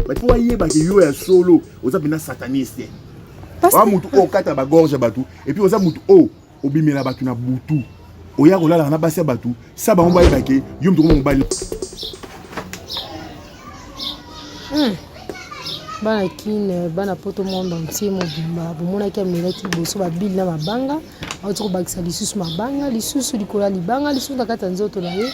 mais po ayeba ke yo ya solo oza mpena sataniste oa motu oyo okata bagorge ya bato epuis oza motu oyo obimela bato na butu oya kolalaka na basi ya bato sa bango bayeba ke yo motu koma mobali hmm. bana kine bana poto monde entier mobimba bomonaki amelaki liboso babili na mabanga auti kobakisa lisusu mabanga lisusu likolo ya libanga lisusu na kati ya nzoto na ye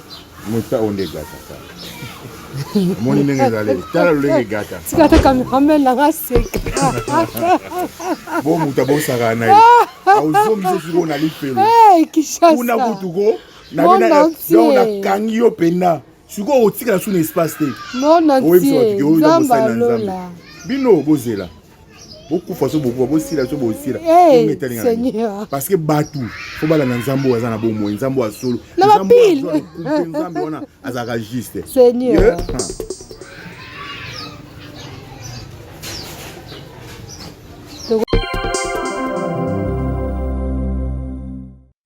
Muta oyo nde gata tala. Omoni ndenge ezali. Tala lolenge gata. Tika te cameraman na nga seka. Bo muta bo saka na ye. Ozongi so siko na lifelo. Eh Kinshasa. Kuna kutu ko na bena donc na kangi yo pena. Siko otikala sous espace te. Mon entier. Nzamba lola. Bino bozela. bokufa so bokufa bosila so bosila eh, parce que bato fo balanda nzambe oyo aza na bomoi nzambe oyo asolo nzambe wana azalaka juste seigneur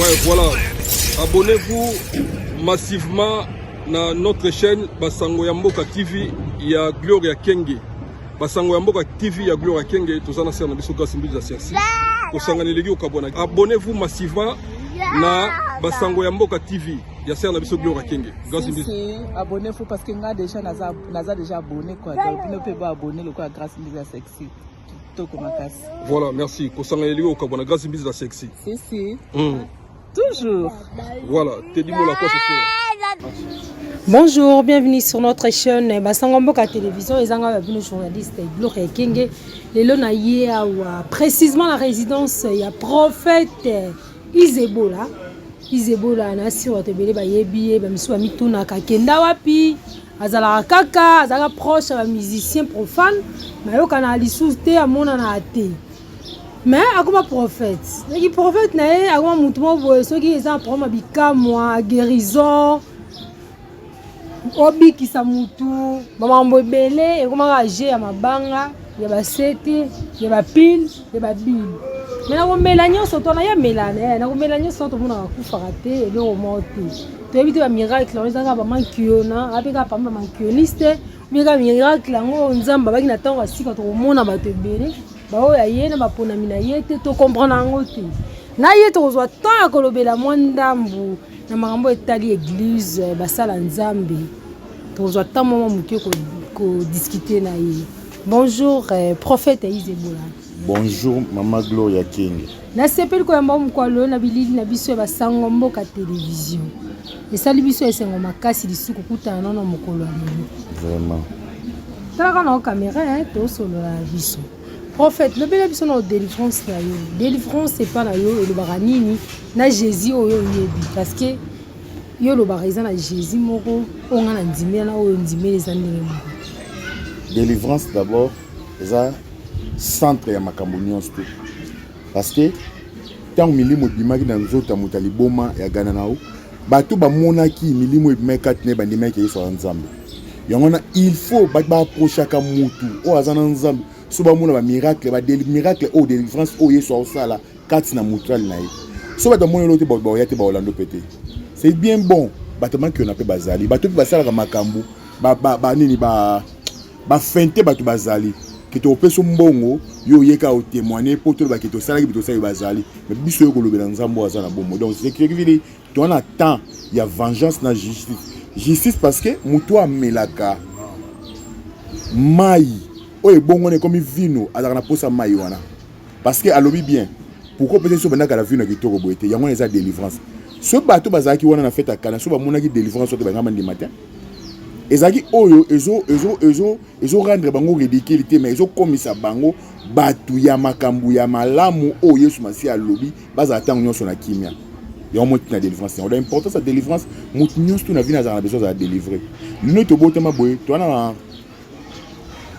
Ouais, voilà. Abonnez-vous massivement na notre chaîne Basango ya Mboka TV ya Gloria Kenge. Basango ya Mboka TV ya Gloria Kenge toza na sera na biso Grace Mbiza Sersi. Kosangana eleki okabwana. Abonnez-vous massivement na Basango ya Mboka TV ya sera na biso Gloria Kenge. Grace Mbiza. Si, abonnez-vous parce que nga déjà naza naza déjà abonné quoi. Donc bino pe ba abonné lokola Grace Mbiza Sexy. kitoko makasi voilà merci kosanga elingi kokabwa na grâce mbizi na sexy si si mm. toujours voilà tedi mola kwa soso Bonjour, bienvenue sur notre chaîne Basango Mboka Télévision et Zanga Babino journaliste Gloria Kenge. Les lona yé awa précisément la résidence il y a prophète Isebola. Isebola na sur te belé ba yebi ba misu ba mituna ka kenda wapi azalaka kaka azalaka proche ya ba musicien profane mais ayokana lisusu te amonana te mais akoma prophète soki prophète na ye akoma motu moko boye soki eza na problème ya bikamwa guérison obikisa motu bamakambo ebele ekomaka je ya mabanga ya ba sete ya ba pile ya ba bile me nakomela nyonso to naya melana eh, nakomela nyonso na tomonaka kufaka te eloko moko te toyebi te bamiracle yango ezaka bamankiona ape kaka pamba bamankioliste obiyeka miracle yango nzambe abaki na ntango ya sika tokomona bato ebele baoyo ya ye na baponami na ye te tokomprana yango te na ye tokozwa temps ya kolobela mwa ndambu na makambo etali eglize basala nzambe Tozwa temps mwa moke ko, ko discuter na ye. Bonjour eh, prophète Izebola. Bonjour mama Gloria Kenge. Nasepeli koyamba mokwa loyo na bilili na biso ya basango mboka television. Esali biso esengo makasi lisusu kokutana nono mokolo ya lelo. Vraiment. Talaka na kamera eh, tosolola na biso. Prophète, lobela biso na délivrance na yo. Délivrance epa na yo elobaka nini na Jésus oyo oyebi parce que Yo olobaka eza na Jésus moko oyo nga na ndimela na oyo ndimela eza ndenge moko. Délivrance d'abord eza centre ya makambo nyonso te parce que ntango milimo ebimaki na nzoto ya moto ya liboma ya gana na yo bato bamonaki milimo ebimaki kati na ye bandimaki yesu aza nzambe yango wana il faut bato baaprochaka motu oyo aza na nzambe so bamona bamiracle miracle oyo délivrance oyo yesu aosala kati na mutual na ye so bato bamoni olo te baoya te baolando mpe te c'est bien bon bato makiona mpe bazali bato mpe basalaka makambo banini bafente bato bazali kete opesi mbongo yo oyeka otemoigne mpo tolobaki tosalaki bi tosali bazali me biso yo kolobela nzambe oyo aza na bomoi donc sekivili toa na temps ya vengeance na justice justice parce que moto amelaka mai oyo ebongwana ekomi vino azalaka na mposa mai wana parce que alobi bien pourquoi peut-être so bandaka la vie na kitoko boye te yango wana eza délivrance so bato bazalaki wana na fete ya kana so bamonaki délivrance oyo bangama ndima te ezalaki oyo ezo ezo ezo ezo rendre bango ridicule te mais ezokomisa bango bato ya makambo ya malamu oyo yesu masiya alobi bazala ntango nyonso na kimia yango moi tina délivrance yango da importance ya délivrance moto nyonso to na vina azala na besoin azala délivre lino tobotama boye toana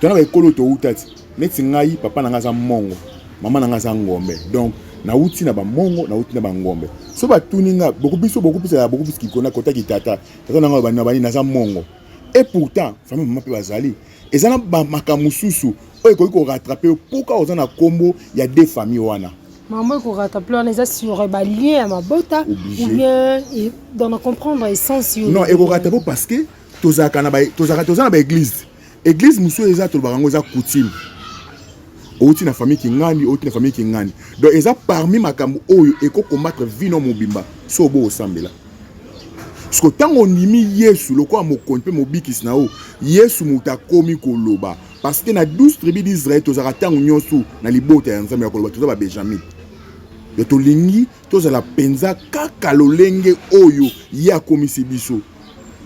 na baekolo towuta ti neti ngai papa na ngai aza mongo mama na ngai aza ngombe donc nauti na bamongo nauti na bangombe so batuni nga bokubiso bokubisaka bokubisi kikona kota kitata tata na ngai bani na bani naza mongo et pourtant fami mama mpe bazali eza na bamaka mosusu oyo ekoki koratrape mpoka oza na nkombo ya de famille wana mama ekoratrape wana eza sur balien ya mabota ou bien dans na comprendre essence yo non ekoratrape parce que tozalaka na baeglise Eglise mususu eza tolobaka yango eza coutume. Outi na famille Kingani, outi na famille Kingani. Donc eza parmi makambo oyo eko combattre vie no mobimba so bo osambela. Siko tango ondimi Yesu lokola mokonzi mpe mobikisi na yo, Yesu moto akomi koloba parce que na 12 tribu d'Israël tozalaka ntango nyonso na libota ya Nzambe ya koloba toza ba Benjamin. Donc tolingi tozala mpenza kaka lolenge oyo ye akomisi biso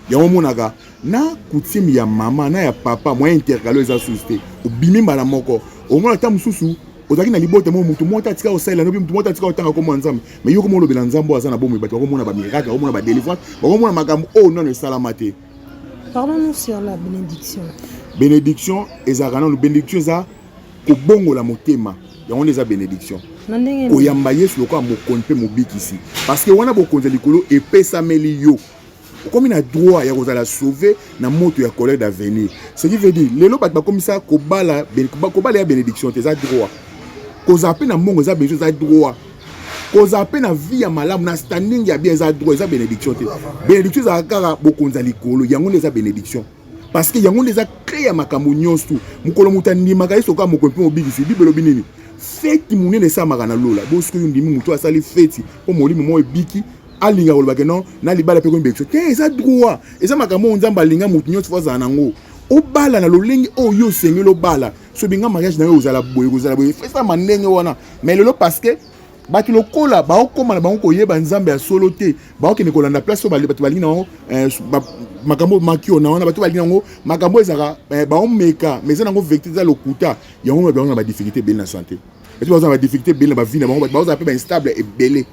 yango omonaka na coutume ya mama na ya papa moyen intercalo eza susu te obimi mbala moko omona ata mosusu ozalaki na libota moko motu moko atika kosalela nobi motu moko atika kotanga komona nzambe mai yo koma olobela nzambe oyo aza na bomoi bato bakomona bamiracle bakomona badelivrance bakomona makambo oyo nano esalama te parlons-nous sur la bénédiction bénédiction ezalaka nano bénédiction eza kobongola motema yango nde eza benediction koyamba yesu lokola mokonzi mpe mobikisi parceke wana bokonzi ya likolo epesameli yo okomi na droit ya kozala sauve na moto ya colère d'avenir ce qui veut dire lelo bato bakomisa kobala kobala ya benediction te eza droit kozala mpe na mbongo eza benediction eza droit kozala mpe na vie ya malamu na standing ya bien eza droit eza benediction te benediction ezalaka kaka bokonzi ya likolo yango nde eza benediction parce que yango nde eza clé ya makambo nyonso mokolo moto andimaka ye soka moko mpe mobikisi bible elobi nini feti monene esalamaka na lola bosiko yo ndimi moto asali feti mpo molimo moko ebiki alinga koloba ke non na libala mpe koyembekisa te eza droit eza makambo oyo nzambe alinga moto nyonso fo azala nango obala na lolenge oyo yo osengeli obala soki nga mariage na yo ozala boye kozala boye esama ndenge wana mais lelo parce que bato lokola baokóma na bango koyeba nzambe ya solo te baokende kolanda place oyo bato balingi na bango eh, makambo makiona wana bato balingi yango makambo ezalaka eh, baomeka mais eza na yango vérité eza lokuta yango bato bango na badifficulté ebele na santé bato baza na badifficulté ebele na bavi na bango bato bazala mpe bainstable ebele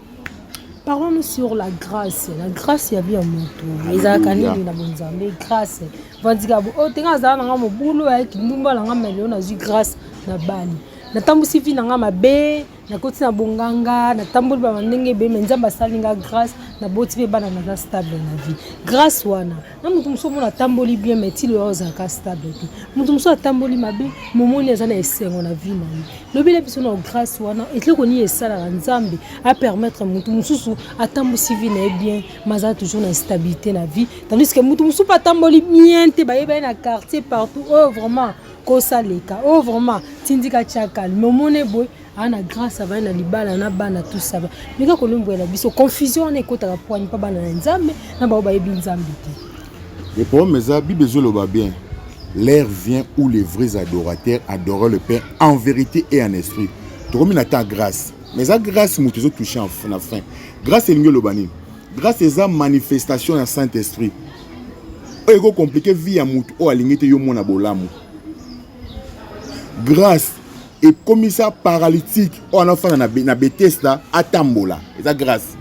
parlons sur la grâce la grâce ya bi ya moto ezalaka nini na bonzambe grâce vandika oyo oh, tenga azala na nga mobulu ayaki ndumba na nga meleo nazwi grâce na bani natambwisi vi na nga mabe nakoti na bonganga natamboli bana ndenge ebele mai nzambe asali nga grâce naboti mpe bana naza stable na vie grâce wana na moto mosusu omona atamboli bien mai ti loya ozalaka stable te moto mosusu atamboli mabe momoni aza na esengo na vie na ye lobela biso na grâce wana etloko nini esalaka nzambe apermettre moto mosusu atambusi vie na ye bien mazala toujours na stabilité na vie tandis que moto mosusu mpe atamboli bien te bayeba ye na quartier partout oyo oh, vraiment kosa leka oh vraiment tindika tia calme omone boye aa na grâce avai na libala na bana tout ça ba meka kolombwela biso confusion wana ekotaka pwani mpa bana na nzambe na bango bayebi nzambe te le problème eza bible ezoloba bien l'air vient où les vrais adorateurs adorent le père en vérité et en esprit tokomi na temps grâce mais eza grâce moto ezotouche na fin grâce elingi eloba nini grâce eza manifestation ya saint esprit oyo eko compliquer vie ya mutu oyo alingi te yo mona bolamu grâce ekomisa paralytique oyo anafanda na, na betesda atambola eza grâce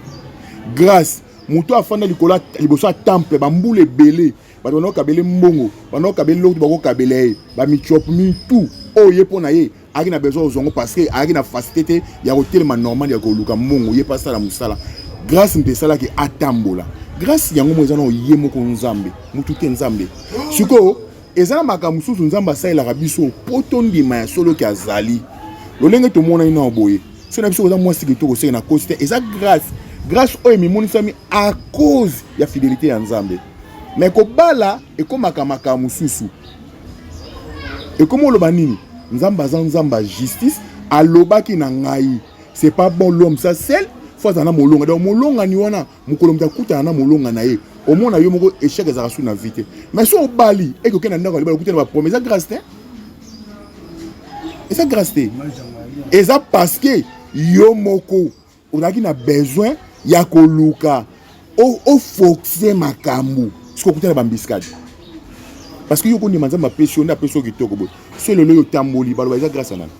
grâce moto afanda likolo liboso ya temple bambula ebele bato banakokabele mbongo banakokabele lokutu bakokabela ye bamichopmi tout oyo ye mpo na ye ayaki na besoin ozwa yango parce que ayaki na facilité te ya kotelema normal ya koluka mbongo ye mpe asala mosala grâce mpe esalaki atambola grâce yango moko eza nao ye moko nzambe motu te nzambe sikoyo eza na makambo mosusu nzambe asalelaka biso mpo tondima ya solo ke azali lolenge tomonani nao boye so na biso oza mwasi kitoko oseke na kosi te eza grâce grâce oyo emimonisami à cause ya fidelité ya nzambe mais kobala ekomaka makambo mosusu ekomi oloba nini nzambe aza nzambe ya justice alobaki na ngai c'est pas bon l'homme ça seul fo azala na molonga donc molongani wana mokolo moto akutana na molonga na ye omona yo moko échec ezalaka su na vie te mais so obali eke okende na ndako ya libala okuta na baprome eza grâce te eza grâce te eza parce que yo moko ozalaki na besoin ya koluka ofoxe makambo soki okuta na bambiskadi parce que yo kondima nzambe apesi yo nde apesi yo kitoko boye so lelo yo otamboli baloba eza grâce nani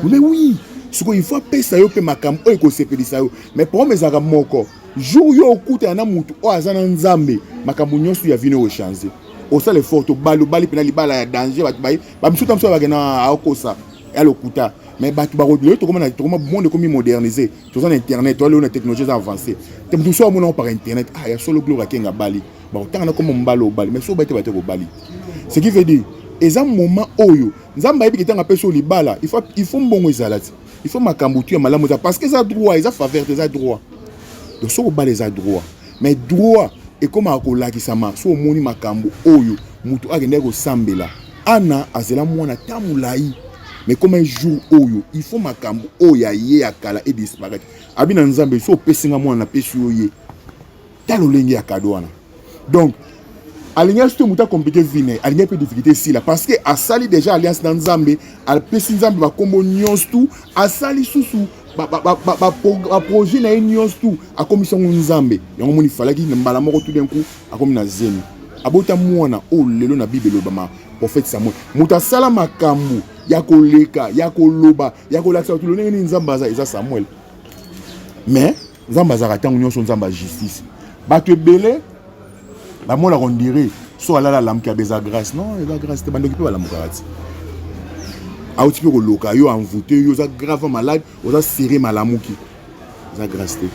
mais oui sikoyo il faut apesa yo mpe makambo oyo ekosepelisa yo mais problème ezalaka moko jour yo okutana na motu oyo aza na nzambe makambo nyonso ya vino ochange osala efort tobalobali mpena libala ya danger bato baye ba misusu ta misusu ba kena akosa ya lokuta mais bato bakolelo tokoma na tokoma monde ekomi modernise toza na internet toalelo na technologie eza avance te moto mosusu amonango par internet ah ya solo gloire akenge abali bakotanga na koma mobali obali mais soki obali te bate kobali ce qui veut dire eza moment oyo nzambe ayebi ketanga apesi oyo libala il faut mbongo ezala te il faut makambo tu ya malamu eza parce que eza droit eza faveur te eza droit donc soki obala eza droit mais droit ekomaka kolakisama so omoni makambo oyo moto akendaki kosambela ana azela mwana ta molai mais comme un jour oyo il faut makambo oyo ya ye ya kala edisparaitre abi na nzambe so opesi nga mwana napesi yo ye ta lolenge ya kado wana donc alingaki to moto akomplike vi na ye alingaki mpe difficulté esila parce que asali déjà alliance na nzambe apesi nzambe bakombo nyonso tu asali susu baprojet na ye nyonso tu akomisi yango nzambe yango moni falaki na mbala moko tout d'un coup akomi na zemi abota mwana oyo lelo na bible elobama prophète samuel moto asala makambo ya koleka ya koloba ya kolakisa bato lolenge nini nzambe aza eza samuel mais nzambe azalaka ntango nyonso nzambe ya justice bato ebele bamonaka ondire so alala alamuki abe eza grace non eza grace te bandoki mpe balamukaka ti auti mpe koloka yo envoute yo oza grave malade oza serre malamuki eza grace te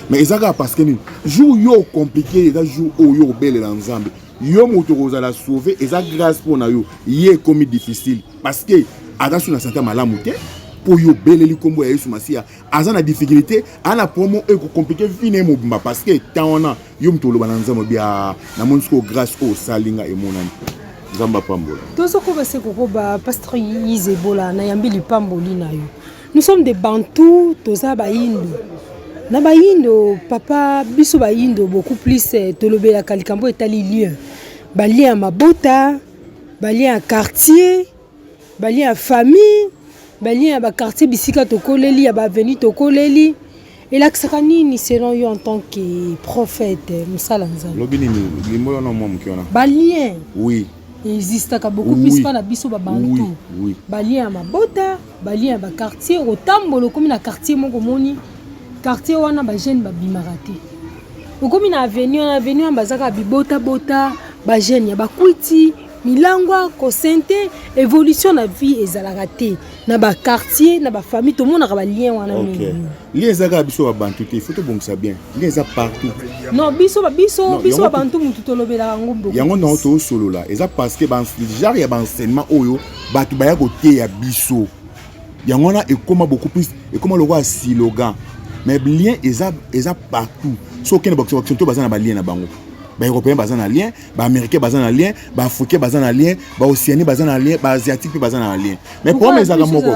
mais eza kaka parce que nini jour yo ocomplike eza jour oyo yo obelela nzambe yo moto okozala sauve eza grace mpo na yo ye ekomi difficile parce que aza so na sante malamu te mpo yo obeleli nkombo ya yesu masiya aza na difficulté aza na promo oyo ekokomplike vi na ye mobimba parce que temps wana yo moto oloba na nzambe bia na moni sikoyo grâce oyo osali nga emonani nzambe apambola tozokoba se kokoba pasteur yise ebola nayambi lipamboli na yo nous sommes des bantous toza bayindo na bayindo papa biso bayindo beaucoup plus eh, tolobelaka likambo etali lien balien ya mabota balien ya quartier ba liens ya famille ba liens ya ba quartier bisika tokoleli ya ba avenue tokoleli elakisaka nini selon yo en tant que prophète mosala nzambe lobi nini limbo wana mwa moke wana ba liens oui existaka beaucoup oui. plus mpa na biso babantu oui. oui. ba liens ya mabota ba liens ya ba quartier otambola okomi na quartier moko omoni quartier wana ba jeune babimaka te okomi na avenue wana avenue wana bazaka bibotabota ba jeune ya bakwiti milangwa kosente evolution na vie ezalaka te na ba quartier na ba famille tomonaka ba lien wana mingi lien eza kaka biso babantu te ifo tobongisa bien lien eza partout non biso biso biso babantu motu tolobelaka yango mboko yango nango tosolola eza parce que genre ya baenseignement oyo bato baya koteya biso yango wana ekoma beaucoup plus ekoma lokola silogan mais lien eza eza partout soki okende bakisakisonto baza na balien na bango baeuropéen baza na lien ba américain baza na lien ba africain baza na lien ba océanie baza na lien ba asiatique mpe baza na lien mais problème ezalaka moko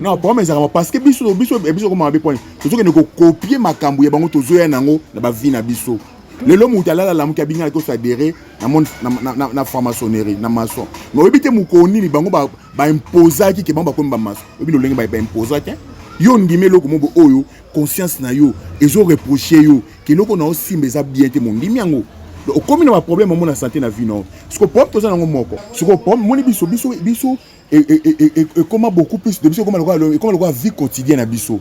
non problème ezalaka moko parce que biso biso biso koma mabe poni tozokende kokopie makambo ya bango tozoya nango na bavi na biso lelo moto alalala moke abinga alaki osadere na franc-maçonnerie na maçon mais oyebi te mokolo nini bango baimposaki ke bango bakomi bamaçon oyebi lolenge baimposaki yo ondimi eloko mobo oyo conscience na yo ezoreproche yo Keloko na osimba eza bien te mondimi yango. Okomi na ba problème mona santé na vie na yo. Siko problème toza nango moko. Siko problème moni biso biso biso e, e, e, e, ekoma beaucoup plus de biso ekoma lokola ekoma lokola vie quotidienne na biso.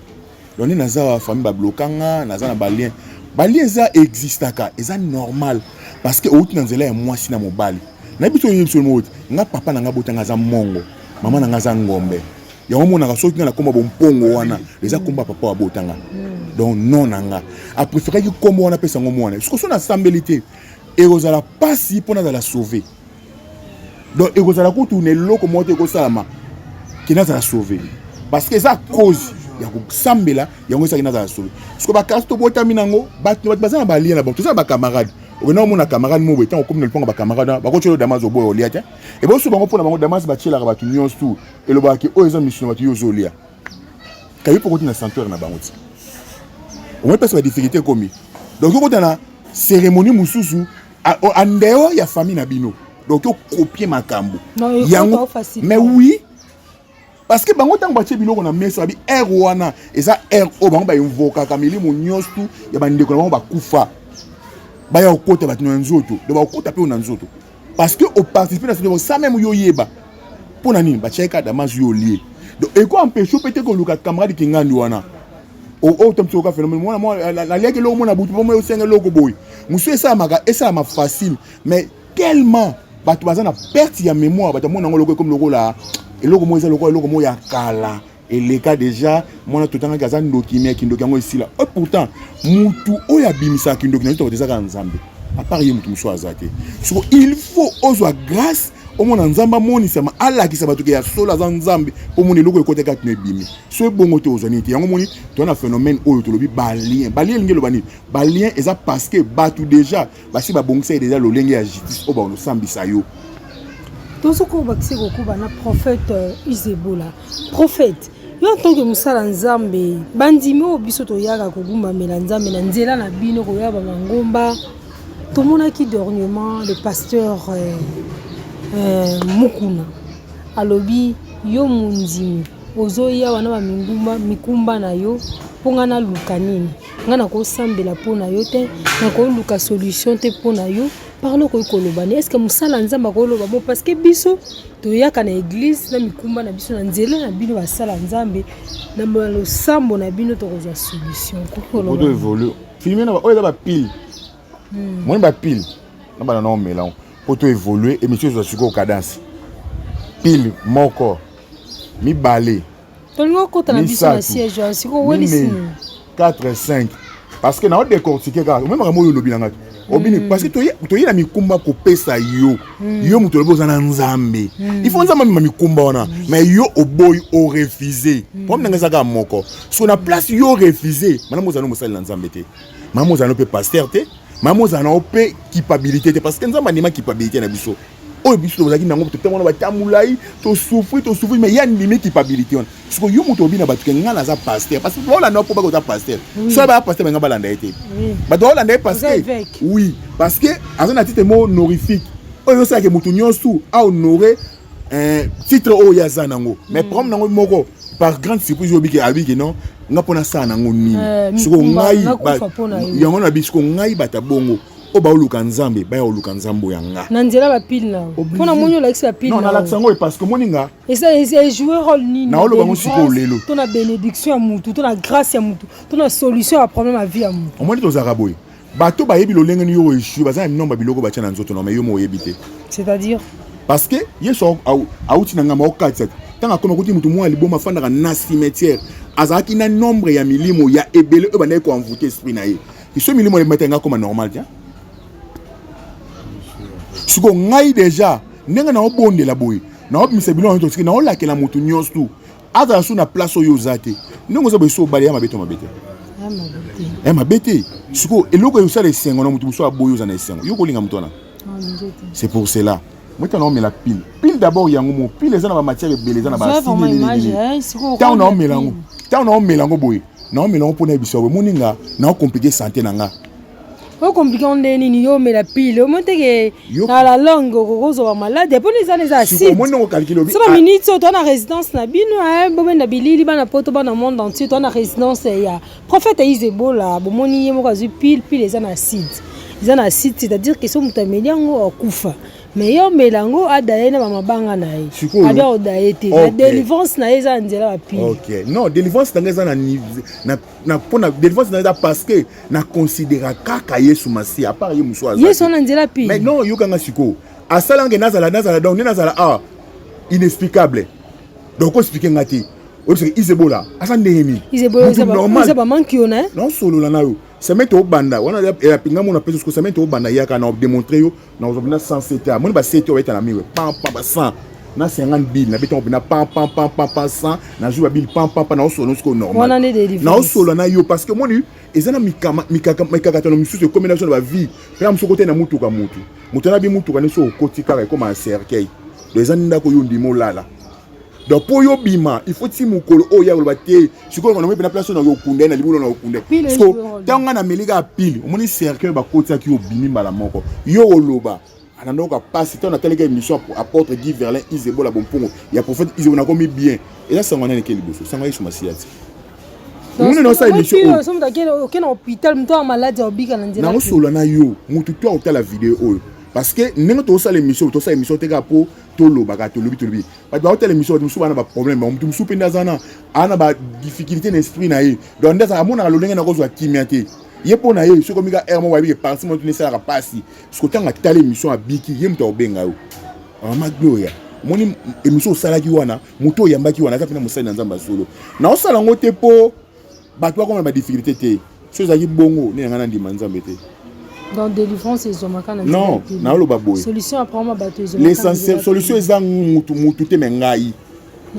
Donc nde naza ba famille ba bloka nga, naza na ba lien. Ba lien eza existaka, eza normal parce que outi na nzela ya mwasi na mobali. Na biso yebi biso moko nga papa na nga botanga aza mongo, mama na nga aza ngombe. yango omonaka soki nga nakoma bompongo wana eza nkombo ya papa wabota nga hmm. donc non na nga apréféraki nkombo wana apesa yango mwana sikoso nasambeli te ekozala mpasi mpo nazala sauve donc ekozala kutu na eloko moko te ekosalama ke nazala sauve parce que eza cause ya kosambela yango esaki nazala sauve siko bakasi tobotami nango bato baza na balia na bango toza na bacamarade okenda omona camarade moko ntango okomi na liponga bacamarade wana bakotya yo damas oboya olia te ebosu bango mpo na bango damas batyelaka bato nyonso tu elobaka ke oyo eza misu na bato yo ozolia kayi mpo okoti na sanctuaire na bango ti omoi mpasi badifficulté ekomi donc okota na cérémonie mosusu en dehors ya famille na bino donc okopie makambo yango mais oui parce que bango ntango batie biloko na mesa babi aire wana eza aire oyo bango bainvokaka milimo nyonso tu ya bandeko na bango bakufa baya kokota bato na nzoto donc bakokota mpe oyo na nzoto parce que oparticipe na sino sa meme yo oyeba mpo na nini batiaki kaka damas yo olie donc eko empeshe mpe te koluka camarade kingandi wana oyo tamisi oyoka phénomène mwana mwa naliaki eloko mwana butu mpo moi osenga eloko boye mosusu esalamaka esalama facile mais tellement bato baza na perte ya mémoire bato amona yango eloko ekomi lokola eloko moko eza lokola eloko moko ya kala eleka deja mwana totangaki aza ndoki me kindoki yango esila e pourtant mutu oyo abimisaka kindoki na yotoko ezaka nzambe apart ye motu mosusu aza te soko il faut ozwa grâce omona nzambe amonisama alakisa bato ke ya solo aza nzambe mpo omona eloko ekota kati na ebimi so ebongo te ozwa nini te yango omoni toza na phénomène oyo tolobi balien balien elingi eloba nini balien eza parce que bato deja basi babongisa ye deja lolenge ya justice oyo bakosambisa yo tozokoba bakisi kokoba na prophète euh, isebola prophète yo ntanke mosala nzambe bandimi oyo biso toyaka kogumbamela nzambe na nzela na bino koya bamangomba tomonaki dernièrement le pasteur euh, euh, mukuna alobi yo mondimi ozoya wana bamikumba na yo mpo ngai naluka nini nga nakosambela mpo na yo te nakoluka solution te mpo na yo parle okoki koloba ni estce mosala ya nzambe akoloba bo parce que biso toyaka na eglize na mikumba na biso na nzela na bino basala nzambe na losambo na bino tokozwa solution kokolobaaevolu filme na oyo eza bapile hmm. moni bapile na bana na omelango mpo to évolue émission ezwa sikoyo cadence pile moko mibale tolingi okota na biso na siège wana sikoyo owelisi nini 4 5 parce que nao décortique kaka omema makambo oyo olobi na ngai obini mm. parce que toye na mikumba kopesa yo mm. yo moto olobi oza na nzambe mm. il faut nzambe amema mikumba wana mais yo oboyi orefuse problème na ngai eza kaka moko so na place yo orefuse malamu ozali mosali na nzambe te malamu ozali mpe paster te mama ozala na yo mpe kipabilité te parce que nzambe andima kipabilité na biso oyo biso tozalaki nango totema wana bata molai tosufri tosufri mai ya ndimi kipabilité wana siko yo moto obi na bato ke ngai naza paster parce que baolanda yo mpo baka oza paster soki baya paster benga balanda ye te bato baolanda ye parce que oui parce que aza na titre mo honorifique oyo osalaki moto nyonso ahonore eh, titre oyo ya za nango mais mm. problème nango moko par grande surprise obiki abiki non nga mpo nasala nango nini eh, siko ngai yango na bisiko ngai bata bongo oyo baoluka nzambe baya oluka nzambe oyo yanga na nzela bapile na mpo na moni olakisi bapile nalakisa yango parce que moni nga ejoue role nini naoloba yango sikoyo lelo to na bénédiction ya motu to na grâce ya motu to na solution ya problème ya vie ya motu omoni tozalaka boye bato bayebi lolenge ni yo oeshue baza na minomba biloko batya na nzoto na mai yo mo oyebi te c'est-à-dire parce que yesu auti na ngambo aokatisa te ntango akoma kuti moto mwa liboma afandaka na cimetière azalaki na nombre ya milimo ya ebele oyo bandaki koenvoute esprit na ye iso milimo ebimata yanga akoma normal te sikoyo ngai deja ndenge naobondela boye naobimisa biloko nyonso tosiki naolakela moto nyonso tu azala su na place oyo oza te ndenge oza boyesu obale ya mabe to mabe te ya mabe te sikoyo eloko esala esengo na moto mosusu aboyi oza na esengo yo kolinga moto wana c'est pour cela moto na omela pile pile d'abord yango mo pile eza na bamatière ebele eza na batango na omela yango ntango na omela yango boye na omela yango mpo na yebisa yango emoni nga na okomplike sante na nga o compliqué on ndenge nini yo omela pile omoni te ke na la longue okozwa malade mpona eza na eza acide saba minute oyo toa na résidence na bino eh, bobenda bilili bana poto bana monde entier toa na résidence eh, ya prophète aise ebola bomoni ye moko azwi pile pile eza na acide eza na acide c'est-à-dire ke so moto ameli yango akufa mais yo omela yango ada ye na bamabanga na ye abia oda ye te na délivrance na ye eza na nzela bapile non délivrance na ngai eza na na pona délivrance na eza parce que na considéra kaka Yesu Masiya à part ye musu aza Yesu na nzela pi mais non yoka nga siko asala nge nazala nazala donc ne nazala ah inexplicable donc explique nga te oyebisaka izebola aza ndenge nini izebola solola na yo semaine tobanda wana ya pinga mona pesa siko semaine tobanda yaka na démontre yo na ozwa bina 100 sete amoni ba sete oyo etana miwe pam pam ba 100 na 50 bill na betanga bina pam pam pam pam pam 100 na jour ba bill pam pam pam na osolo siko normal na osolo na yo parce que moni eza na mikama mikaka mikakatano misusu ekomi na biso na ba vie pena mosusu kote na mutuka mutu moto na bi mutuka nde soki okoti kaka ekoma na cercueil donc eza ndako yo ndimo lala donc mpo yo bima il faut ti mokolo oyo ya koloba te sikoyo koloba mpe na place oyo nakokunda ye na libulu nakokunda siko ntango ngai nameli kaka pile omoni cercueil bakotisaki yo obimi mbala moko yo oloba ananoka mpasi ntango natalika émission apôtre guy verlin isebola bompongo ya prophète isebo nakomi bien eza sango nani eke liboso sango yesu masiya ti muna naosa émissionnaosolola na yo motu to akotala video oyo parce que ndenge tosala émission tosala émission te kaka mpo tolobaka tolobi tolobi bato baotala émission bato mosusu bana baproblème bango moto mosusu mpe nde aza na aa na badifficulté na esprit na ye donc nde azala amonaka lolenge na kozwa kimia te ye mpo na ye soki omika aire moko ayebike parti moto nde esalaka mpasi soki otanga tala émission abiki ye moto akobenga yo mama gloria omoni émission osalaki wana moto oyambaki wana aza mpe na mosali na nzambe ya solo naosala yango te mpo bato bakoma na badifficulté te so ezalaki bongo nini yanga nandima nzambe te donc délivrance ezwamaka na non naoloba boye solution apparemment bato ezwamaka solution eza mutu mutu te me ngai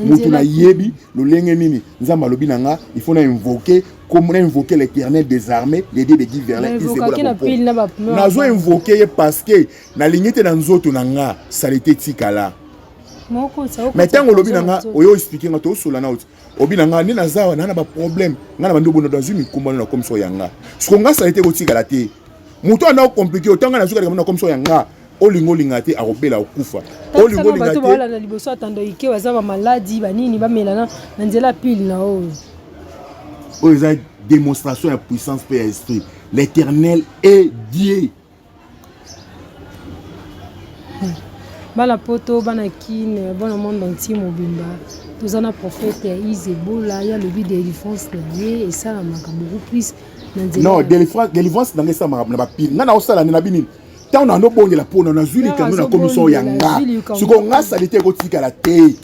mutu nayebi lolenge nini nzambe alobi na nga il faut na invoke comme na invoke l'éternel des armées le dieu de guy verlin nazo invoke ye parce que nalingi te na nzoto na nga salite etikala mais ntango olobi na nga oyo explike nga tosola na oti obi na ngai nde naza awa naa na baproblème ngai na bandobo na dazwi mikumbano na komiso ya nga siko nga salite ekotikala te moto anda okomplike oto ngai nazwi kalikambo na komiso ya nga olinga olinga te akobela okufa olinga olinga te balanda liboso atando ike baza ba maladi ba nini ba melana na nzela pile na oyo oyo eza démonstration ya puissance pe ya esprit l'éternel est Dieu bana poto bana kine bana monde entier mobimba toza na prophète ya ise ebola ye alobi delivrance na ye esalamaka beaucoup plus non delivrance na ngai esalamaka na bapile ngai naosala nde na bini ntango nando bongela mpona nazwi likando na commission ya nga sikoyo nga salite ekotikala te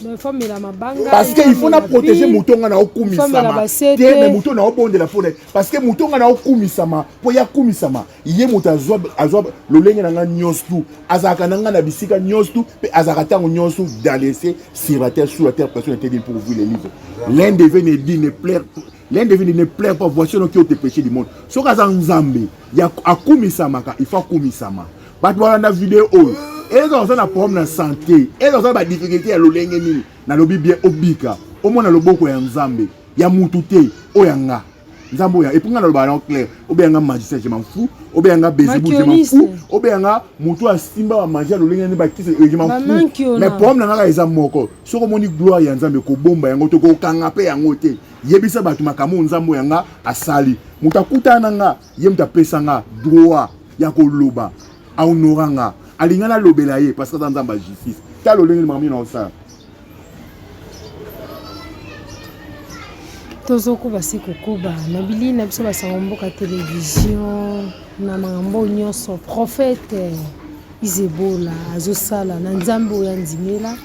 parce que il faut na protéger moto nga naokumisama te me moto naobondela mpona parce que moto nga naokumisama mpo yakumisama ye moto azwa azwa lolenge na ngai nyonso tu azalaka na ngai na bisika nyonso tu mpe azalaka ntango nyonso dans l'essai sur la terre sur la terre personne n'était dit pour ouvrir les livres l'un devait ne dit ne plaire l'un devait ne plaire pas voici no qui ont te péché du monde soki aza nzambe ya akumisamaka il faut akumisama bato balanda video oyo eza oza na problème na santé eza oza na badifficulté ya lolenge nini nalobi bien obika omona loboko ya nzambe ya mutu te oyo ya nga nzambe oya epuis nga naloba yango claire obeya nga magicien je m'en fous obeya nga bezebu je m'en fous obeya nga moto oyo asimba bamagie ya lolenge nde bakisa je m'en fous mais problème na nga kaka eza moko soki omoni gloire ya nzambe kobomba yango te kokanga mpe yango te yebisa bato makambo oyo nzambe oyo nga asali moto akutana na nga ye moto apesa nga droit ya koloba ahonora nga alinga nalobela ye parce que aza nzambe ya justice ta lolenge makambo nini naosala tozokoba se kokoba na bilili na biso basango mboka televizio na makambo nyonso profete izebola azosala na nzambe oyo andimela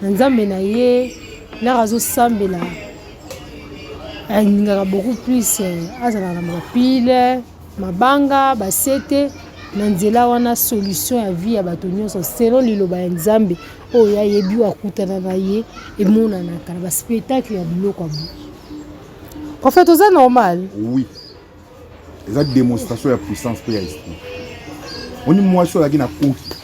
na nzambe na ye laka azosambela alingaka beaucoup plus azalaka na mapile mabanga basete na nzela wana solution ya vie ya bato nyonso selon liloba ya nzambe oyo ayebi oyo akutana na ye emonanaka na baspectacle ya biloko abu prophète oza normal oui eza démonstration ya puissance mpe ya esprit oni mwasi oyo azalaki na koki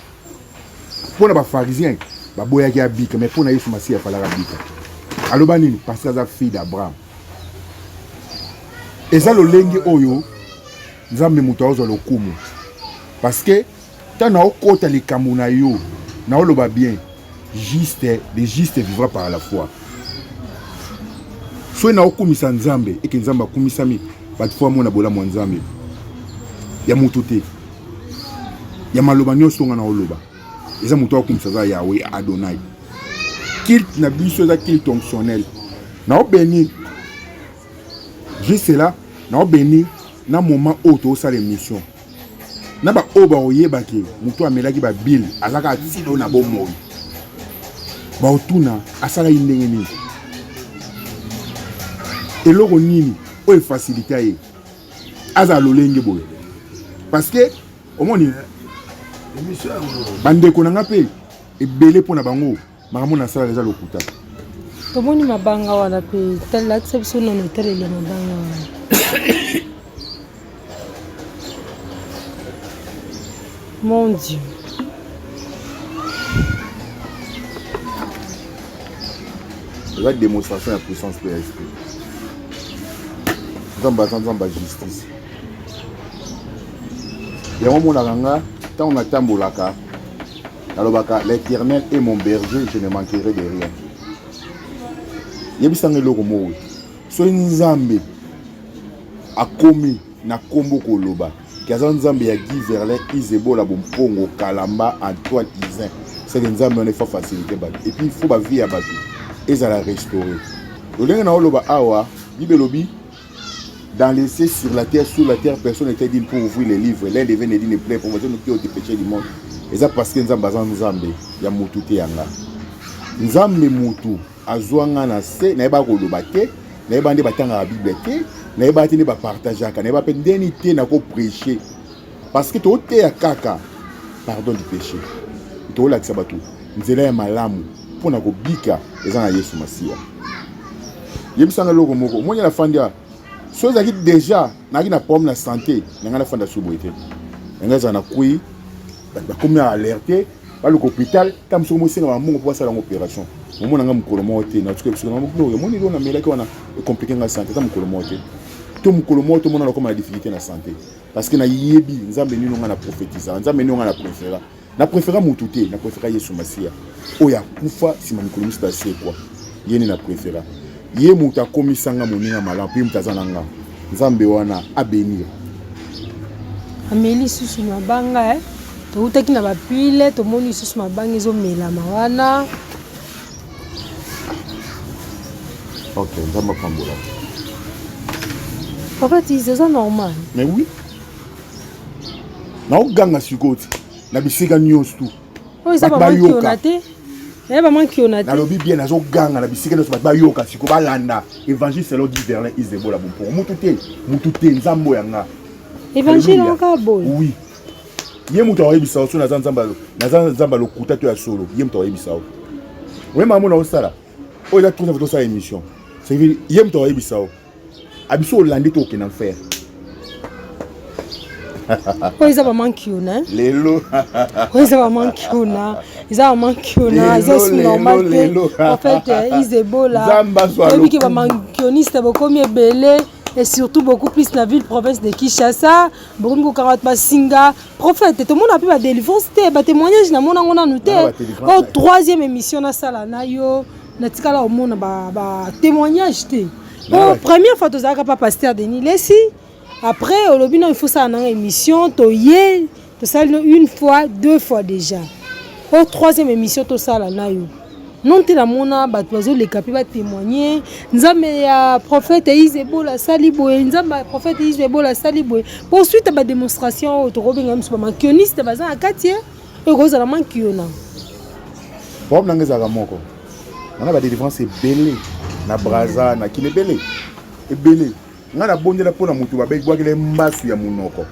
mpo na bafarisien baboyaki abika mais mpo na yesu masiya afalaka abika aloba nini parce que aza fille d'abraham eza lolenge oyo nzambe moto aozwa lokumu parce que Tant na okota likambo na yo na oloba bien juste le juste vivra par la foi soki na okumisa nzambe eke nzambe akumisami bato fo amona bolamu ya nzambe ya moto te ya maloba nyonso nga na oloba eza moto akumisa aza yawe ya adonai kilte na biso eza kilte fonctionnel na obeni juste là na obeni na moment oyo tozosala émission na baoyo bakoyebaki motu amelaki babile azaka atilo na bomoi baotuna asalaki ndenge nini eloko nini oyo efasilita ye azala lolenge boye parce que omoni bandeko na ngai mpe ebele mpo na bango makambo na salaka eza lokuta tomoni mabanga wana mpe talakisa biso nano etaleli ya mabanga wana mon dieu eza démonstration ya puissance mpe ya esprit nzambe aza nzambe ya justice yango omonaka nga ntango natambolaka nalobaka l'eternel et mon berger je ne manquerai de rien yebisanga eloko moko soki nzambe akomi na nkombo koloba ke aza nzambe ya guy verlin isebola bompongo kalamba antoine isin seke nzambe wana efa facilité bato epuis fo bavie ya bato ezala restauré lolenge na oloba awa bibelobi Dans les cieux, sur la terre, sous la terre, personne n'était digne pour ouvrir les livres. L'un devait ne dit ne plaît, promotion nous qui ont dépêché du monde. Et ça parce que Nzambe aza Nzambe, ya mutu te yanga. Nzambe mutu azwa nga na se, na yeba koloba te, na yeba nde batanga la Bible te, na yeba te nde ba partageaka, na yeba pe ndeni te na ko prêcher. parce que toteya kaka pardon du péché toolakisa bato nzela ya malamu mpo na kobika eza na yesu masiya yebisanga eloko moko omoni nafandi a so ezalaki déjà nayaki na problème na santé na ngai nafanda su boye te na ngai ezala na kui bato bakomi na alerte baluka hôpital ta mosuku mosenga bamongo mpo basala yango opération omona ngai mokolo moko te natuki biso na mokolo oyo omoni eloko namelaki wana ekomplike ngai santé ta mokolo moko te to mokolo moko tomonana okoma na difficulté na santé Parce que nayebi nzambe nino nga na prophetisa nzambe nino nga na prefera na prefera mutu te na prefera yesu masiya oyo akufa nsima mikolo misato asekwa ye nde na prefera ye moto akomisa nga moninga malamu mpe moto aza na nga nzambe wana abenir ameli lisusu mabanga eh? toutaki na bapile tomoni lisusu mabanga ezomelama wana Ok, nzambe apambola. Papa tizi eza normal. Mais oui. naoganga sikoyo ti na bisika nyonso tu oyo eza bayoka te Eh, nalobi bien nazoganga na bisika nyonso bato bayoka siko balanda évangile selon di verlin isebola bompoko mutu te mutu te nzambo ya nga évangile yango kaka boye oui ye moto akoyebisa yo so naza nzamba lokuta to ya solo ye moto akoyebisa yo oye makambo na osala oyo eza trosa tosala émission cest ye moto akoyebisa yo abiso olandi to okenda mfere oyo eza bamankiuna lelo oyo eza bamankiuna eza bamankiuna eza su normal te en fait eh, izebola oyebi ke bamankioniste bokomi ebele et surtout beaucoup plus na ville province de Kinshasa bokomi kokanga bato basinga prophète tomona mpe badelivrance te batémoignage namona yango nanu te oyo troisième émission nasala na yo natikala omona batémoignage te po première fois tozalaka pa pasteur denis lesi après olobi no ifosala nanga émission toye tosali no une fois deux fois déjà oyo troisième émission tosala nayo non te namona bato bazoleka mpe batémoigne nzambe ya prophète ise ebola asali boye nzambe ya prophète ise ebola asali boye mpo suite ya badémonstration oyo tokobenga miso bamakioniste baza na kati ye oyo kozala mankiona problème nanga ezalaka moko wana badelivrance ebele na braza na kina ebele ebele Nga na bondela mpo na moto babe bwakela ye mbasu ya monoko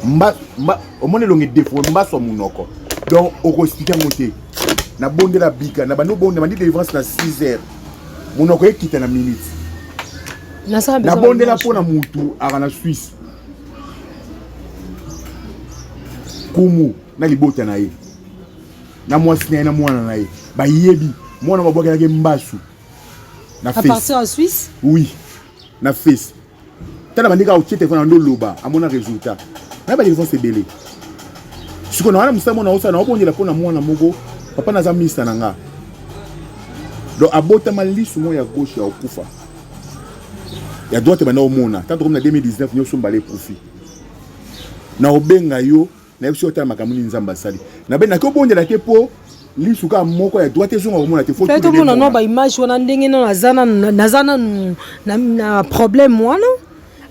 mba, mba, omoni elongi defo mbasu ya monoko donc okoexplike yango te na bondela bika na bandi obonda bandi delivrance na 6 heures monoko ekita na minute na bondela mpo na motu aka na swisse kumu na libota na ye na mwasi na ye na mwana na ye bayebi mwana babwakelaki mbasu na face à partir en Suisse oui na face tala bandeko akotie telefone yango oloba amona résultat naye badefense ebele sikoyo nawana mosala mona osala naobondela mpo na mwana moko papa naza minista na nga donc abotama lisu moko ya gauche ya okufa ya droite banda omona tanto komi na 2019 nyonso mbala ekufi na obenga yo nayebi soki otala makambo nini nzambe asali nabe naki obondela te mpo lisu kaka moko ya droite ezonga komona te fai tomona nao baimage wana ndenge nano naza nanu na problème wana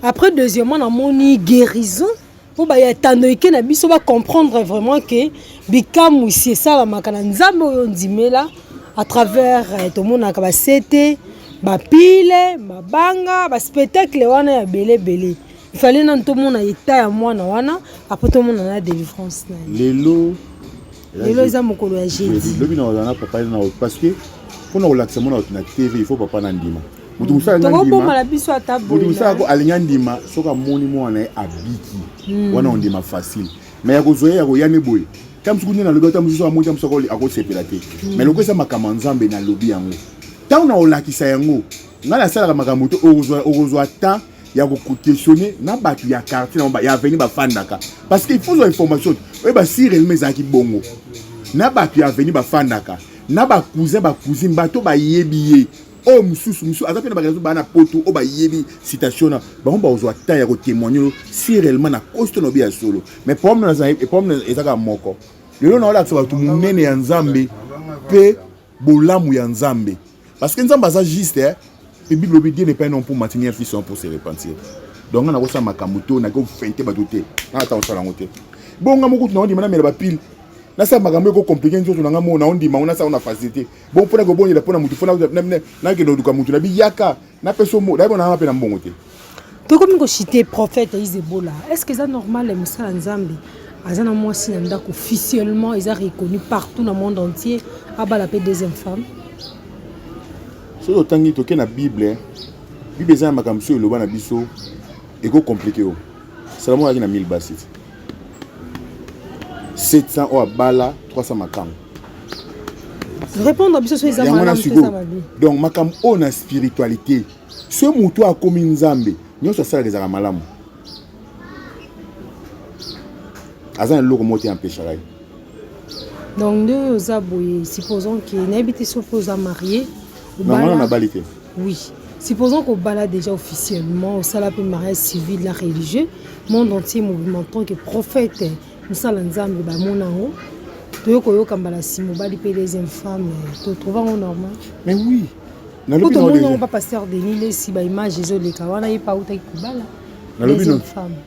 après deuxièmement namoni guérison mpo bayatando eke na biso bacomprendre vraiment ke bikamwisi esalamaka na nzambe oyo ondimela à travers eh, tomonaka basete bapile mabanga baspectacle wana ya belebele Il fallait nanu tomona etat ya mwana wana après tomona na délivrance na ye lelo lelo eza mokolo ya jeudi lobi na ozana papa na parce que pona kolakisa mwana na TV il faut papa na ndima moto mosusu alingi andima soki amoni mwana ye abiki hmm. wana ondima facile me ya kozwa ye ya koya ne boye ta mosuku nde nalobi ata mosusu amoni ta mosuku akosepela te hmm. me lokosa makambo ya nzambe nalobi yango ntango na kolakisa yango ngai nasalaka makambo te okozwa temps ya kokutesione na bato ya quartier na ya aveni bafandaka parce que il faut zwa information oyeba si réellement ezalaki bongo na bato ya aveni bafandaka na bacousin bacousine bato bayebi ye oyo mosusu mosusu aza mpe na bakelaso baa na poto oyo bayebi citation na bango bakozwa temps ya kotemoigne oyo si réellement na kosi to na obi ya solo mais problème ezaka moko lelo na olakisa bato monene ya nzambe mpe bolamu ya nzambe Parce que Nzambe aza juste hein. Et Bible lobi Dieu n'est pas un homme pour mentir ni un fils pour se repentir. Donc on a kosa makambo to na ko fente ba doute. Na ta osala ngote. Bonga moko tuna ndima na mela ba pile. Na sa makambo ko compliquer nzoto na ngamo na ndima on a sa on a facilité. Bon pona ko bonela pona mutu fona na na ke ndoka mutu na biyaka. Na peso mo, d'ailleurs na pe na mbongo te. Tokomi ko citer prophète Isebola. Est-ce que ça normal le musala Nzambe? Aza na mwasi na ndako officiellement eza reconnu partout na monde entier abala pe deuxième femme. Soki otangi toke na Bible, hein. Bible eza na makambo soki eloba na biso eko compliquer yo. Salomon ayaki na 1000 basi. 700 oyo abala 300 makambo répondre biso soki eza malamu soki eza mabe donc makambo oyo na spiritualité soki motu akomi nzambe nyonso asalaka ezalaka malamu aza na eloko moko te empeshaka ye donc nde oza boye supposons ke nayebi te soki oza marie nangana nabali te Oui. Supposons qu'on bala déjà officiellement, au sala pe mariage civil la religieux, monde entier mouvement tant que prophète, musala nzambe ba monango, toyo koyoka mbala si mobali pe deuxième femme, to trouve ngo normal. Mais oui. Nalobi na déjà. Ko papa pasteur Denis les si ba image ezo leka wana ye pa uta ki kubala. Nalobi na.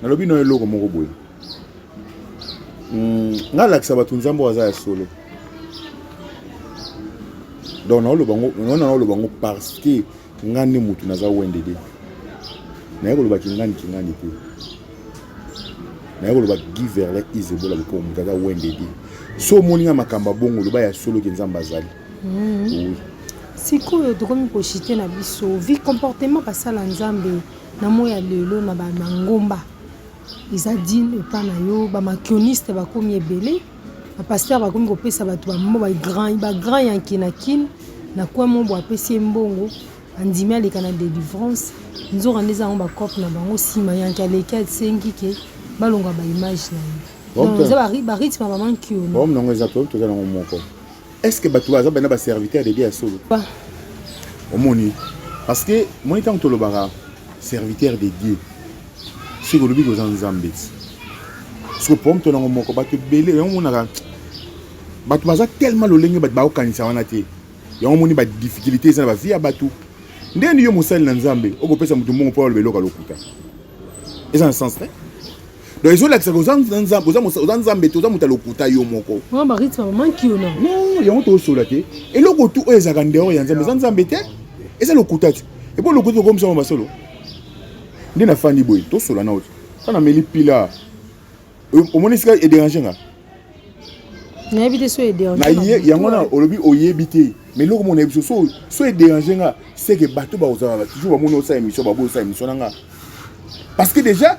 Nalobi na eloko moko boye. hmm, nga lakisa bato nzambe aza ya solo donc naoloba ngo wana naoloba ngo parce que nga nde motu naza wendede naye koloba kingani kingani te naye koloba guy verlin isebola lokola motu aza wendede so omoni nga makambo ya bongo loba ya solo ke nzambe azali hmm. oui. sikoyo tokomi koshite na biso vi comportement basala nzambe na moi ya lelo na bangomba Eza deal epa na yo ba makioniste bakomi ebele ba pasteur bakomi kopesa bato bambo ba grand ba grand yanke na kin na coin mobo apesi ye mbongo andimi aleka na delivrance nzoka nde eza yango bacope na bango nsima yanke aleki asengi ke balonga baimage na ye eza barythme ya mama nkiono yango eza toza nango moko est ce que bato baza bana ba serviteur de dieu ya solo omoni parce que moi ntango tolobaka serviteur de dieu soki olobi koza nzambe ti soki problème to nango moko bato ebele yango omonaka bato baza tellement lolenge bato bakokanisa wana te yango omoni badifficulté eza na bavie ya bato nde ni yo mosali na nzambe okopesa moto mbongo mpo aloba eloko ya lokuta eza na sens te donc ezolakisa ke oza nzambe te oza moto ya lokuta yo moko yango tozosola te eloko tu oyo ezalaka ndeor ya nzambe eza nzambe te eza lokuta te epo lokuta tokomisama masolo nde nafandi boye tosola nao te sa nameli pila omoni esika ederange nga nayebi te so ederange yango na olobi oyebi te mais eloko mona yebi so so ederange nga seke bato bakozala toujours bamoni osala émission baboyi osala émission na nga parce que déjà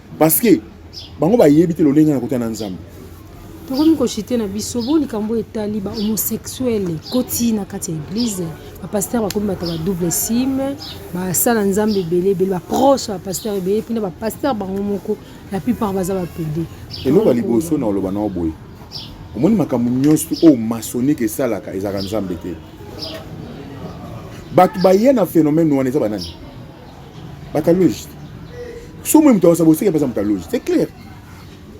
parce que bango bayebi te lolenge na kota na nzambe tokomi koshite na biso bo likambo etali ba homosexuel ekoti na kati ya eglize bapaster bakomi bato ba double sime basala nzambe ebele ebele baproche bapaster ebele mpena bapaster bango moko la plupart baza bapede eloko ya liboso na oloba nao boye omoni makambo nyonso oyo masonike esalaka ezalaka nzambe te bato baya na phénomène wana eza banani bataloge so moi moto akosa boseke mpe aza motaloge c'est clair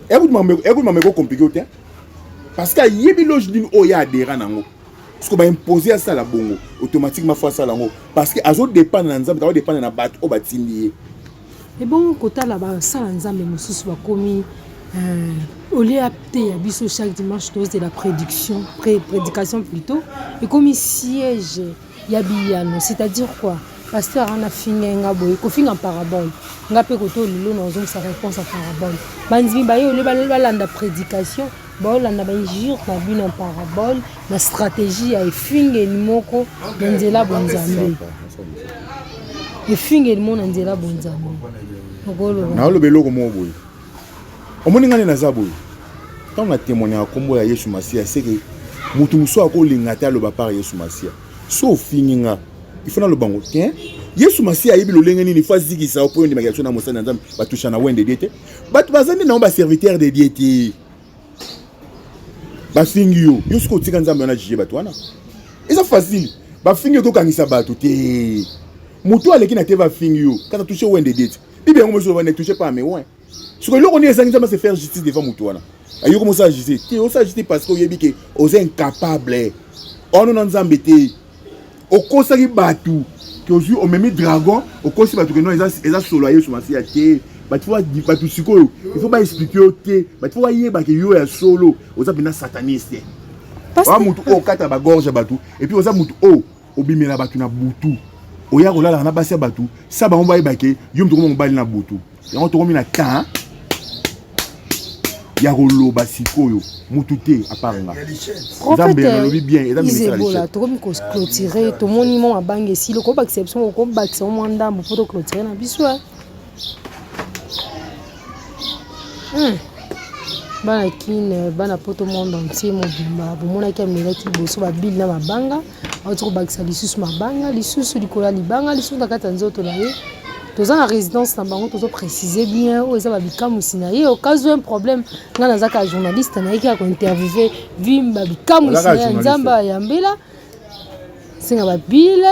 ekuti makambo ekokomplike yo te parce que ayebi loge nini oyo ye adhera nango soki baimpose asala bongo automatiquement fo asala yango parce que azodépendre na nzambe aodépendre na bato oyo batindi ye ebongo kotala basala nzambe mosusu bakomi euh, au lieu ateya biso chaque dimanche tozela prédiction prédication plutôt ekomi siège ya biyano c'est à dire quoi pasteur wana afingai nga boye kofinga parabole nga mpe koto lelo na ozongisa réponse ya parabole bandimi baye ole balanda prédication baolanda bainjure na bino ya parabole na stratégie ya efingeli moko na nzela bonzambe efingeli moko na nzela bonzambe naoloba eloko moko boye omoni ngani naza boye ntango na témoigna ya nkombo ya yesu masiya seke moto mosusu akolinga te aloba par yesu masiya so ofingi nga ifo naloba ngo te yesu masiya ayebi lolenge nini fo azikisa yo mpo yo ndimaki biso na mosali na nzambe batusha na wende die te bato baza nde nango baserviteur de die te bafingi yo yo soki otika nzambe wana jije bato wana eza facile bafingi yo tokangisa bato te moto aleki na te bafingi yo kata tushe wende die te bibi yango mozoloba ne touche pas mais ouais soko eloko nini ezangi nzambe ase faire justice devant moto wana ayoki mosala justice te osala justice parce que oyebi ke oza incapable ono na nzambe te okosaki bato ke ozwi omemi dragon okosi bato ke no eza solo ya yesu masiya te bato sikoyo ifo baexplike yo te bato fo bayeba ke yo ya solo oza mpenza sataniste oa motu oyo okata bagorge ya bato epuis oza motu oyo obimela bato na butu oya kolalaka na basi ya bato sa bango bayeba ke yo moto okoma mobali na butu yango tokomi na temps ya koloba sikoyo mutu te apart nga nzambe ya nalobi bien eza misala tokomi koclotire tomoni mwa mabange esili okobakisa biso okobakisa mwa ndambo mpo toclotire na biso Hmm. bana kine bana poto monde entier mobimba bomonaki amelaki liboso babili na mabanga auti kobakisa lisusu mabanga lisusu likolo ya libanga lisusu na kati ya nzoto na ye toza na résidence na bango tozo précise bien oyo eza babikamwisi na ye okazwi un problème ngai naza kaka journaliste nayeki ya kointerviewe vimba bikamwisi na ya nzambe ayambela nsinga babile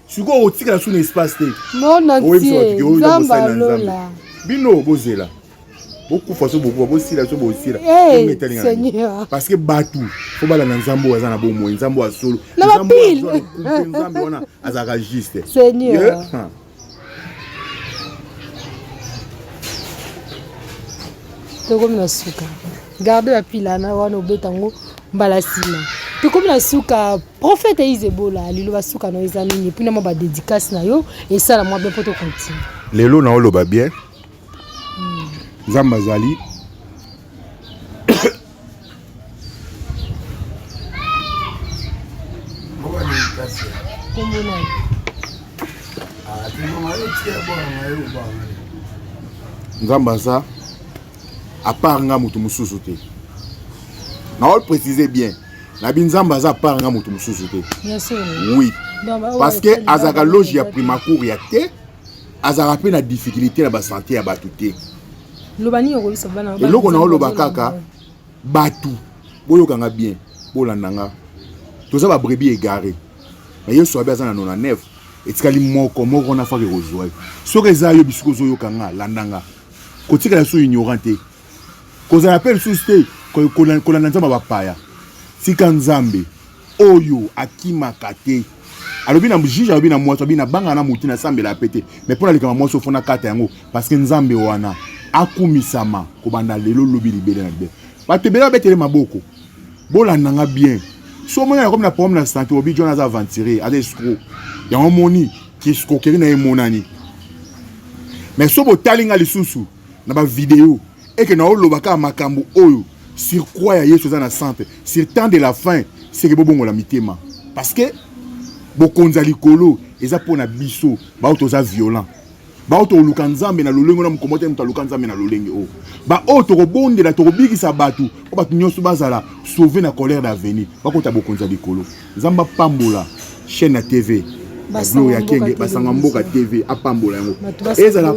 sikoyo okotikala su na espace te monotiezambalola bino bozela bokufa so bokufa bosila so bosila eh, parce que bato fo balanda nzambe oyo aza na bomoi nzambe oyo asolo nzambe wana azalaka juste tokomi na suka garde bapilana wana obeta yango mbala nsima tokomi na suka profete izebola liloba suka na yo eza nini mpuna mwa badedikasi na yo esala mwa bien mpo tokontinue lelo na oloba bien hmm. nzambe azali ah, nzambe aza à part nga mutu mususu te na ol préciser bien nabi nzambe aza part nga mutu mususu te oui parce que azalaka loge ya primacour ya te azalaka mpe na difficulté na basante ya bato te eloko na oloba kaka bato boyokanga bien bolanda nga toza babrebi egare na yesu abi aza na 99 etikali moko moko wana faka ekozwa soki eza yo bisika ozoyoka nga landa nga kotikala lisusu ignorant te kozala mpe lisusu te kolanda nzambe ya bapaya tika nzambe oyo akimaka te alobi na juge alobi na mwasi alobi nabanga na motu nasambela mpe te mai mpo nalekama mwasi ofo nakata yango parce que nzambe wana akumisama kobanda lelo lobi libele na libele bato ebele babetele maboko bolanda nga bien so omoni nakomi na problème na santé obi jona aza aventurier aza escro yango omoni Escroquerie na emonani. Mais so botali nga lisusu na ba vidéo et que na oloba ka makambo oyo sur croix ya Yesu eza na centre sur temps de la fin c'est que bobongola mitema parce que bokonzi ya likolo eza mpo na biso baoyo toza violent baoyo tokoluka nzambe na lolenge na mokombo te moto aluka nzambe na lolenge oyo baoyo tokobondela tokobikisa bato mpo bato nyonso bazala sauve na colère d'avenir bakota bokonzi ya likolo Nzambe apambola chaîne ya TV ya Gloria Kenge basanga mboka TV apambola yango ezala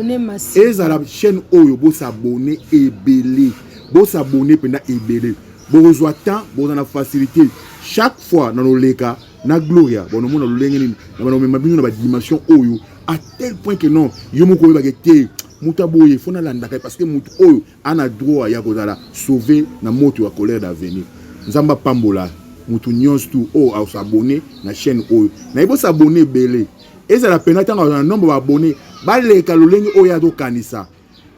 ezala chaîne oyo bosabone ebele bosabone mpenza ebele bokozwa temps bokozala na facilité chaque fois na loleka na Gloria bonomona lolenge nini na banomema bino na badimension oyo à tel point que non yo moko oyebake te moto aboye fo nalandaka ye parce que moto oyo Ana droit ya kozala sauve na moto ya colère d'avenir. Nzambe apambola mutu nyonso tu oyo oh, asabone na chaîne oyo. Nayebi osabone ebele. Ezala pena ntango azala na nombre ba abone baleka lolenge oyo azokanisa.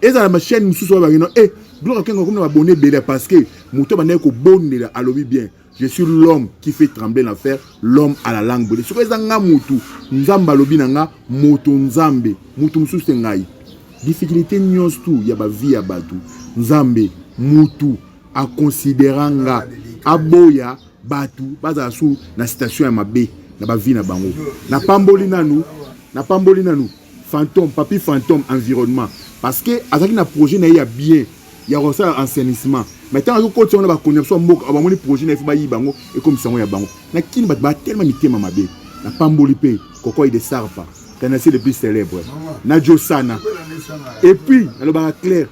Ezala ma chaîne mosusu oyo bakino e eh, Gloria Kengo akomi na babone ebele parce que moto abandaki kobondela alobi bien. je suis l'homme qui fait trembler l'enfer l'homme à la langue brûlée soki eza nga mutu nzambe alobi na nga moto nzambe mutu mosusu te ngai difficulté nyonso tu ya bavie ya bato nzambe mutu akonsidera nga aboya bato bazala su na situation ya mabe na bavie na bango napamboli nanu napamboli nanu Fantome, Papy Fantome environnement parce que azalaki na projet na ye ya bien ya kosala enseignement mais ntango azokotisa yango na bakonzi na biso ya mboka bamoni projet na ye fo bayiba yango ekomisa yango ya bango na kini bato batelema mitema mabe na pamboli mpe kokoi de sarpa canasi le plus célèbre na josana epuis nalobaka claire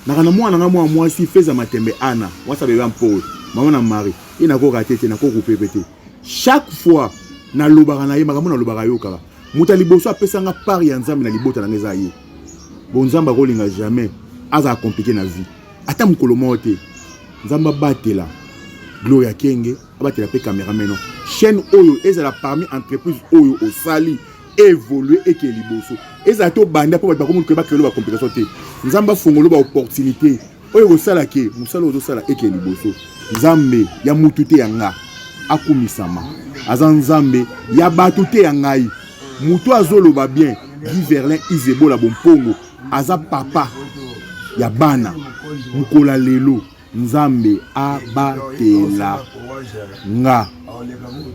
naka na mwana nga mwa mwasi feza matembe ana mwasi abebe mpowe mama na mari ye nakoka te te nakoku pepe te chaque fois nalobaka na ye makambo nalobaka yokaka moto ya liboso apesa nga part ya nzambe na libota na nga eza ye bo nzambe akolinga jamais azala komplike na vie ata mokolo moko te nzambe abatela gloria kenge abatela mpe camerameno chaîne oyo ezala parmi entreprise oyo osali evolue eke liboso ezala te obanda mpo bato bakomi koyeba kelelo bacomplication te nzambe afongolo baopportunité oyo ekosala ke mosala ozosala eke liboso nzambe ya mutu te ya nga akumisama aza nzambe ya bato te ya ngai moto azoloba bien guy verlin izebola bompongo aza papa ya bana mokola lelo nzambe abatela nga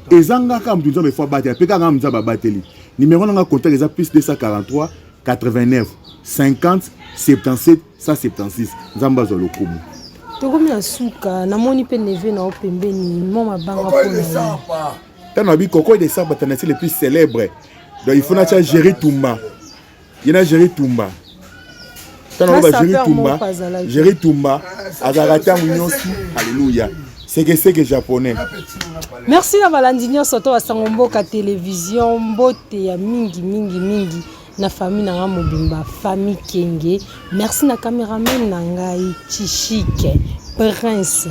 eza nga kaka moto nzambe fo abatela mpe kaka nga nzambe abateli nimero na nga contact eza plus 243 89 50 77 176 nzambe azwa lokumu tokomi na suka namoni mpe neve na yo pembeni mo mabanga mpona ntango abi kokoy de saba tanasi le plus célèbre donc il faut natya géri tumba ye na jeri tumba ntango aloba jeri tumba jeri tumba azalaka ntango nyonso aleluya sekeseke japonais merci na balandi nyonso to basango mboka televizio mbote ya mingi mingi mingi na famille na ngai mobimba famille kenge merci na cameraman na ngai chishike prince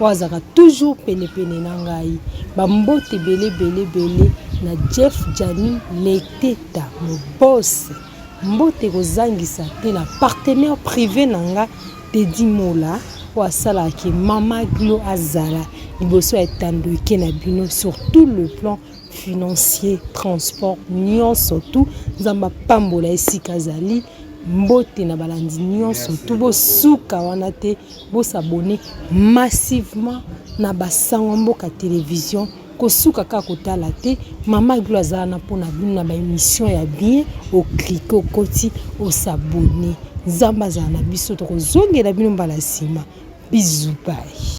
oyo azalaka toujours penepene na ngai bambote ebele ebele ebele na jeff jani leteta mobose mbote kozangisa te na partenaire privé na nga tedi mola oyo asalaki mama glo azala liboso ya etando eke na bino sur tout le plan financier transport nyonso tu nzambe apambola esika azali mbote na balandi nyonso tu bosuka wana te Bo s'abonner massivement na ba sangwa mboka television kosuka kaka kotala te mama glo aza wana mpo na bino na ba emission ya bien oklike okoti osabone nzambe azala na biso tokozongela bino mbala nsima bizubai